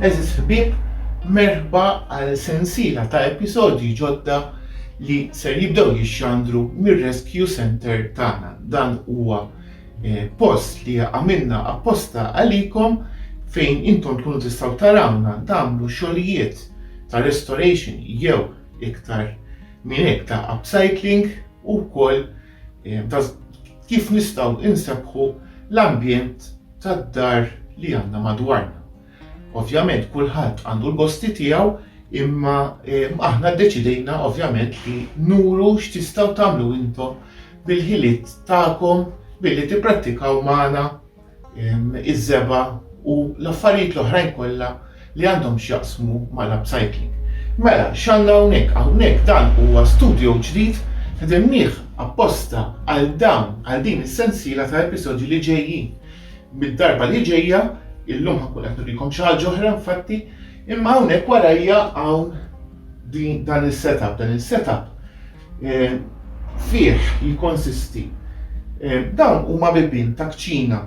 Għeżież ħbieb, merħba għal sensiela ta' episodji ġodda li ser jibdew jixxandru mir-Rescue Centre tagħna. Dan huwa post li għamilna apposta għalikom fejn intom tkunu tistgħu tarawna tagħmlu xogħlijiet ta' restoration jew iktar minn hekk ta' upcycling u wkoll ta' kif nistgħu insebbħu l-ambjent tad-dar li għandna madwarna. Ovvjament kulħadd għandu l-gosti tiegħu imma aħna ddeċidejna ovvjament li nuru x'tistgħu tagħmlu intom bil-ħiliet tagħkom billi tipprattikaw magħna iż-żebgħa u l-affarijiet l-oħrajn kollha li għandhom x'jaqsmu mal-upcycling. Mela, x'għandna hawnhekk? Hawnhekk dan huwa studio ġdid, ħdimnieh apposta għal dawn, għal din is-sensiela ta' episodji li ġejjin. Mid-darba li ġejja, illum ħankun qed nurikom xi ħaġa oħra infatti, imma hawnhekk warajja hawn din dan is-setup, dan is-setup eh, fih jikkonsisti eh, dawn huma bibien ta' kċina.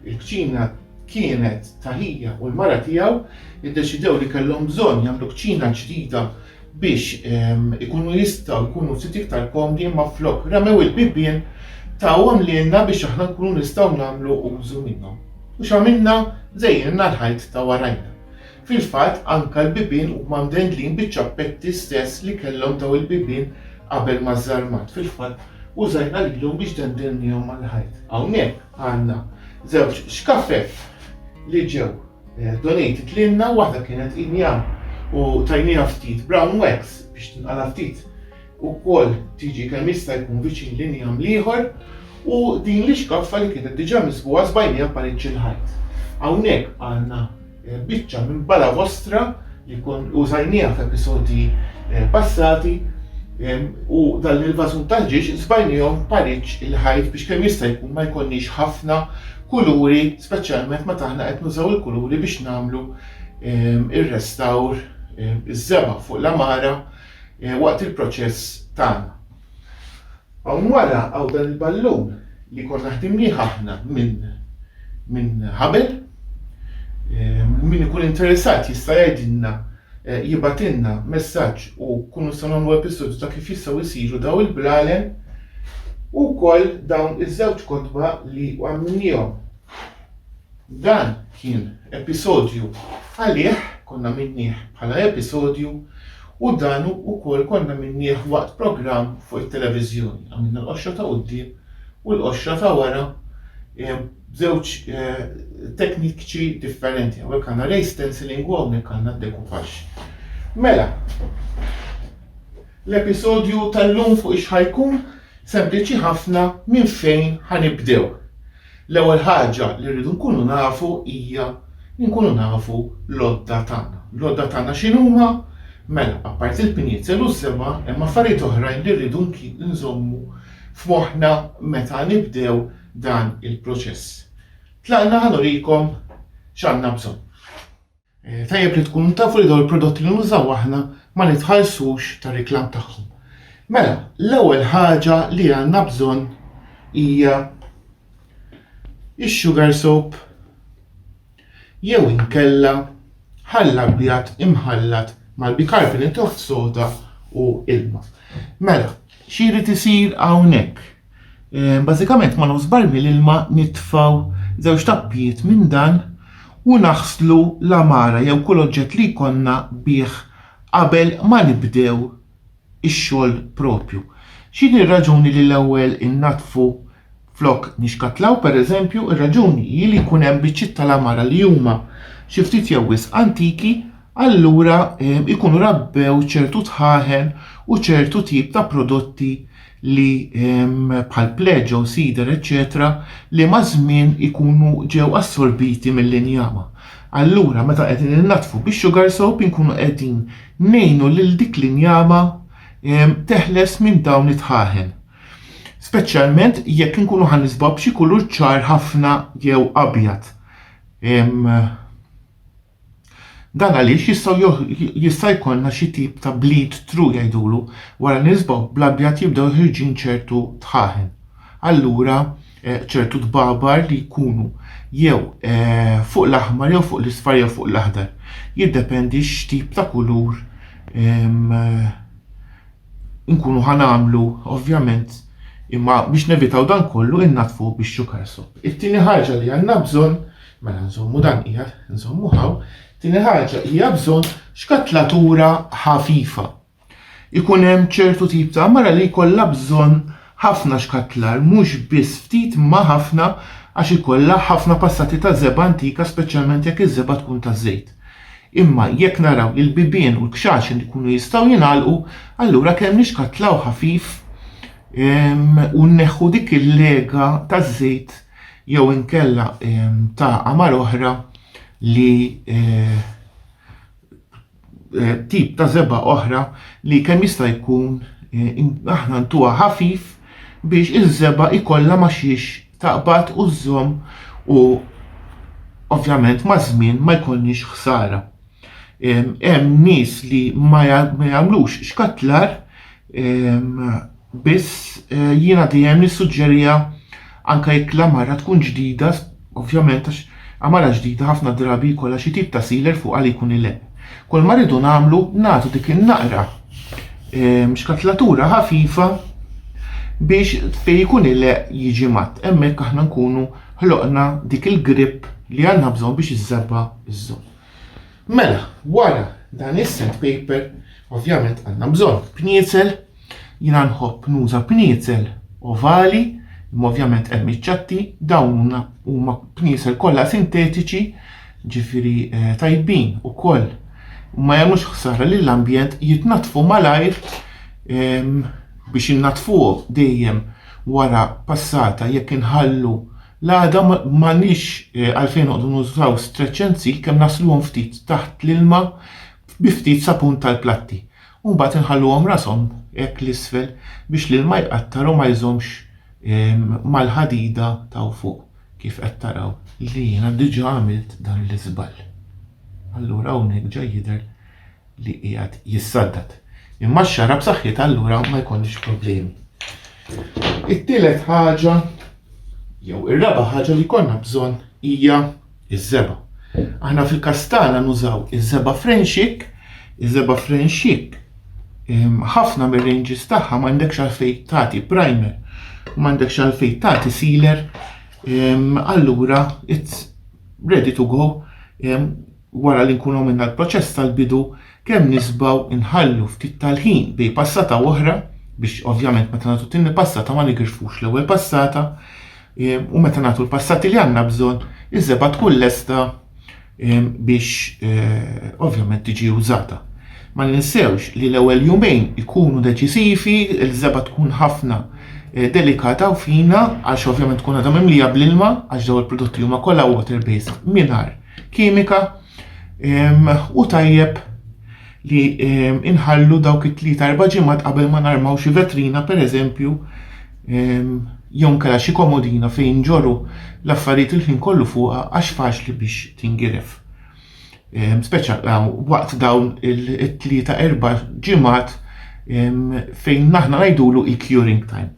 Il-kċina kienet ta' ħija u l-mara tiegħu iddeċidew li kellhom bżonn jagħmlu kċina ġdida biex ikunu jistgħu jkunu ftit iktar komdi imma flok ramew il-bibien tawhom lilna biex aħna nkunu nistgħu nagħmlu użu minnhom. U x'għamilna? Żejjinna l-ħajt ta' warajna. Fil-fatt anke l-bibien huma mdendlin biċ-ċappetti stess li kellhom dawn il-bibien qabel ma żarmat. Fil-fatt użajna lilhom biex dendelniehom mal-ħajt. Hawnhekk għandna żewġ xkafef li ġew Donate titlilna waħda kienet inja u tajnieha ftit brown wax biex tinqala' ftit ukoll tiġi kemm jista' jkun viċin l-inja ml-ieħor u din l-ixkaffa li kienet diġà misbugħa sbajnieha parecc il-ħajt. Hawnhekk għandna biċċa minn bala vostra li kon użajnieha f'episodji passati u dan il-vażun tal-ġiex sbajniehom parecc il-ħajt biex kemm jista' jkun ma jkollniex ħafna kuluri, speċjalment meta aħna qed nużaw il-kuluri biex nagħmlu ehm, ir-restawr ehm, iż-żebgħa fuq l-amara eh, waqt il-proċess tagħna. Hawn wara hawn dan il-ballun li konna ħdimnieh aħna minn minn ħabel. Ehm, min ikun interessat jista' jgħidilna jibgħatilna messaġġ u nkunu nistgħu nagħmlu episodju ta' kif jistgħu jsiru daw il-blalen u wkoll dawn iż-żewġ kotba li għamilniehom. Dan kien episodju għalih, konna minnieh bħala episodju u dan ukoll konna minnieh waqt programm fuq it-televiżjoni. Għamilna l-qoxra ta' quddiem u l-qoxra ta' wara b'żewġ teknikċi differenti. Hawnhekk għandna ray stenciling u hawnhekk għandna dekupax. Mela, l-episodju tal-lum fuq ix ħajkun sempliċi ħafna minn fejn ħanibdew. L-ewwel ħaġa li rridu nkunu nafu hija nkunu nafu l-odda tagħna. L-odda tagħna x'inhuma? Mela, apparti l-pinjezel u żema, hemm affarijiet oħrajn li rridu nżommu f'moħħna meta nibdew dan il-proċess. Tlaqna ħa nurikom x'għandna bżonn. Tajjeb li tkunu tafu li dawn il-prodotti li nużaw aħna ma nitħallsux tar-riklam tagħhom. Mela, l-ewwel ħaġa li għandna bżonn hija ix-sugar soap jew inkella ħall abjad imħallat mal-bicarbonate of soda u ilma. Mela, xiri tisir hawnhekk? Bażikament ma' nofs barmil ilma nitfgħu żewġ tappijiet minn dan u naħslu l-għamara jew kull oġġett li jkollna bih qabel ma nibdew ix-xogħol proprju. X'inhi r-raġuni li l-ewwel innaddfu flok nixkatlaw? Pereżempju, ir-raġuni hi li jkun hemm biċċiet tal-għamara li huma xi ftit jew wisq antiki, allura ikunu rabbew ċertu dħaħen u ċertu tip ta' prodotti li bħal pleġo, sider, eċċetera li maż-żmien ikunu ġew assorbiti mill-injama. Allura meta qegħdin innaddfu bix-sugar soap inkunu qegħdin ngħinu lil dik l-injama teħles minn dawn id-dħaħen. Speċjalment jekk inkunu ħa nisbuha b'xi kulur ċar ħafna jew abjad. Dan għaliex jistgħu jista' jkollna xi tip ta' bleed through jgħidulu wara li nisbaw bl-abjad jibdew joħirġin ċertu tħaħen. Allura eh, ċertu tbabar li jkunu jew eh, fuq l-aħmar jew fuq l-isfar jew fuq l-aħdar. Jiddependi x'tip ta' kulur ehm, nkunu ħanamlu ovvjament imma biex nevitaw dan kollu innatfu biex xukarsu. It-tieni ħaġa li għandna bżonn Mela nżommu dan qiegħed, nżommu hawn. Tieni ħaġa hija bżonn xkatlatura ħafifa. Ikun hemm ċertu tip ta' mara li jkollha bżonn ħafna xkatlar, mhux biss ftit ma ħafna għax ikollha ħafna passati ta' żeba' antika speċjalment jekk iż-żeba' tkun ta' żejt. Imma jekk naraw li l-bibien u l-kxaxen ikunu jistgħu jingħalqu, allura kemm nixkatlaw ħafif u nneħħu dik il-lega taż-żejt jew inkella ta' għamar oħra li tip ta' żebgħa oħra li kemm jista' jkun aħna ntuha ħafif biex iż-żebgħa ikollha ma xiex taqbad u żżomm u ovvjament ma' żmien ma jkollniex ħsara. Hemm nies li ma jagħmlux xkatlar Biss jiena dejjem nissuġġeriha anke jekk l-għamara tkun ġdida, ovvjament għax għamara ġdida ħafna drabi jkollha xi tip ta' sealer fuqha li jkun ileqq. Kulma rridu nagħmlu nagħtu dik in-naqra xkatlatura ħafifa biex fejn ikun ileqq jiġi mgħadd. Hemmhekk aħna nkunu ħloqna dik il-grip li għandna bżonn biex iż-żebba żżomm. Mela, wara dan is-sandpaper ovvjament għandna bżonn bniezel Jiena nħobb nuża pniezel ovali, imma ovvjament hemm iċ-ċatti, dawn huna huma pniezel kollha sintetiċi, ġifieri eh, tajbin ukoll. U ma jagħmlux ħsara lill-ambjent, jitnaddfu malajr ehm, biex innaddfuh dejjem wara passata jekk inħallu l-għada ma- m'għandniex eh, għalfejn noqogħdu nużaw stretch and seal kemm nasluhom ftit taħt l-ilma bi ftit sapun tal-platti. u mbagħad inħalluhom rashom hekk 'l isfel biex l-ilma jqattar u ma jżommx mal-ħadida t'hawn fuq kif qed taraw li jiena diġa' għamilt dan l-iżball. Allura hawnhekk ġa jidher li qiegħed jissaddad. Imma x-xagħra b'saħħitha allura ma jkollniex problemi. It-tielet ħaġa jew ir-raba' ħaġa li jkollna bżonn hija iż-żebgħa. Aħna fil-każ tagħna nużaw iż-żebgħa frenxik, iż-żebgħa frenxik ehm, ħafna mir-ranges tagħha m'għandekx għalfejn tagħti primer u m'għandekx għalfejn tagħti sealer ehm, allura it's ready to go ehm, wara li nkunu minna l-proċess tal-bidu Kemm nisbgħu nħallu ftit tal-ħin bej passata u oħra biex ovvjament meta nagħtu t-tieni passata ma nigrifux l-ewwel passata ehm, u meta nagħtu l-passati li għandna bżonn iż-żebgħa tkun lesta ehm, biex eh, ovvjament tiġi użata. Ma ninsewx li l-ewwel jumejn ikunu deċisivi, il-żebgħa tkun ħafna eh, delikata u fina għax ovvjament tkun għadha mimlija bl-ilma għax daw il-prodotti huma kollha water based mingħajr kimika u tajjeb li inħallu dawk it-tlieta erba' ġimgħat qabel ma narmaw xi vetrina pereżempju jew nkella xi komodina fejn ġoru l-affarijiet il-ħin kollu fuqha għax faċli biex tingiref. Speċa waqt dawn it-tlieta erba' ġimgħat fejn naħna ngħidulu il-curing time.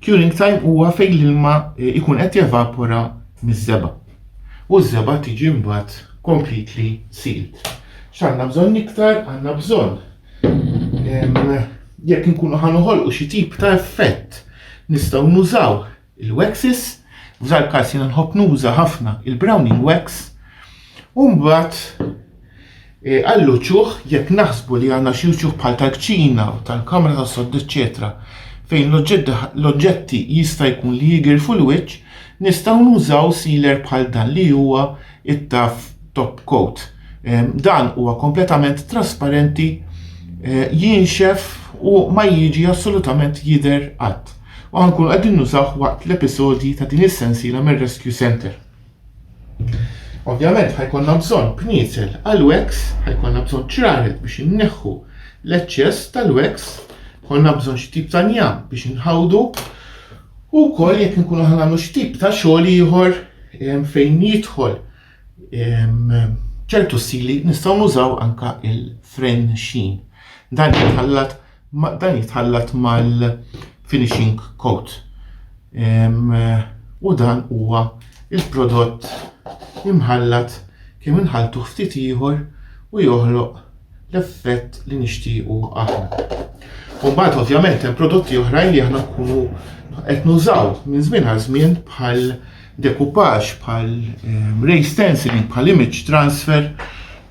Curing time huwa fejn l-ilma jkun qed jevapora miż-żebgħa u ż-żebgħa tiġi mbagħad completely sealed. X'għandna bżonn iktar? Għandna bżonn jekk inkunu ħa noħolqu xi tip ta' effett nistgħu nużaw il-waxes, f'dal każ jiena nħobb nuża ħafna il-browning wax, u mbagħad Għall-uċuħ, jekk naħsbu li għandna xi uċuħ bħal tal-kċina, tal-kamra tas-sodda eċċetera fejn l-oġġetti jista' jkun li jigirfu l-wiċċ, nistgħu nużaw sealer bħal dan li huwa t-tough top coat. Dan huwa kompletament trasparenti, jinxef u ma jiġi assolutament jidher qatt. U ħankunu qegħdin nużawh waqt l-episodji ta' din is-sensiela mir-Rescue Centre. Ovvjament ħajkonna bżonn kniesel għal wax, ħajkonna bżonn ċraret biex inneħħu l-eċċess tal-wax, konna bżonn xi tip ta' njam biex inħawdu u wkoll jekk nkunu ħanagħmlu xi tip ta' xogħol ieħor fejn jidħol ċertu sili nistgħu nużaw anka il-fren xin. Dan jitħallat Ma dan jitħallat mal-finishing coat. U dan huwa il-prodott imħallat kemm inħalltuh ftit ieħor u joħloq l-effett li nixtiequ aħna. U mbagħad ovvjament hemm prodotti oħrajn li aħna nkunu qed nużaw minn żmien għal żmien bħal decoupage bħal ray stenciling bħal image transfer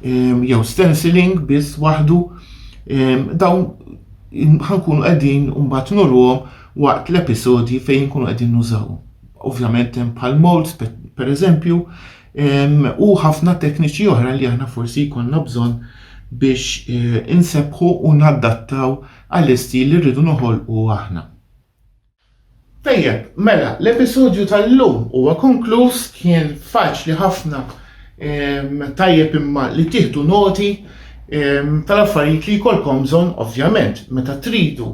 jew stenciling biss waħdu dawn ħankunu qegħdin mbagħad nurruhom waqt l-episodji fejn nkunu qegħdin nużawhom. Ovvjament hemm bħal molds pereżempju u ħafna tekniċi oħra li aħna forsi jkollna bżonn biex eh, insebbħu u naddattaw għall-istil li rridu noħolqu aħna. Tajjeb, mela l-episodju tal-lum huwa konkluż, kien faċli ħafna ehm, tajjeb imma li tieħdu noti ehm, tal-affarijiet li jkollkom bżonn ovvjament meta tridu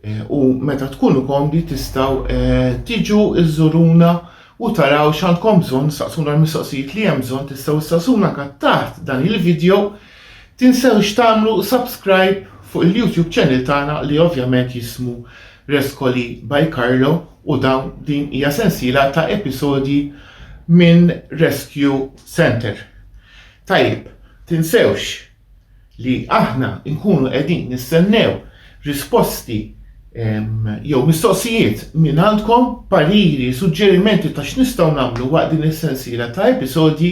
eh, u meta tkunu komdi tistgħu eh, tiġu iżżuruna u taraw x'għandkom bżonn saqsuna l-mistoqsijiet li hemm bżonn tistgħu issaqsuna kat taħt dan il-video. Tinsewx tagħmlu subscribe fuq il-YouTube channel tagħna li ovvjament jismu Rescoli by Carlo u dawn din hija sensiela ta' episodji minn Rescue Center. Tajjeb, tinsewx li aħna nkunu qegħdin nistennew risposti jew mistoqsijiet minn għandkom, pariri, suġġerimenti ta' x'nistgħu nagħmlu waqt din is-sensiela ta' episodji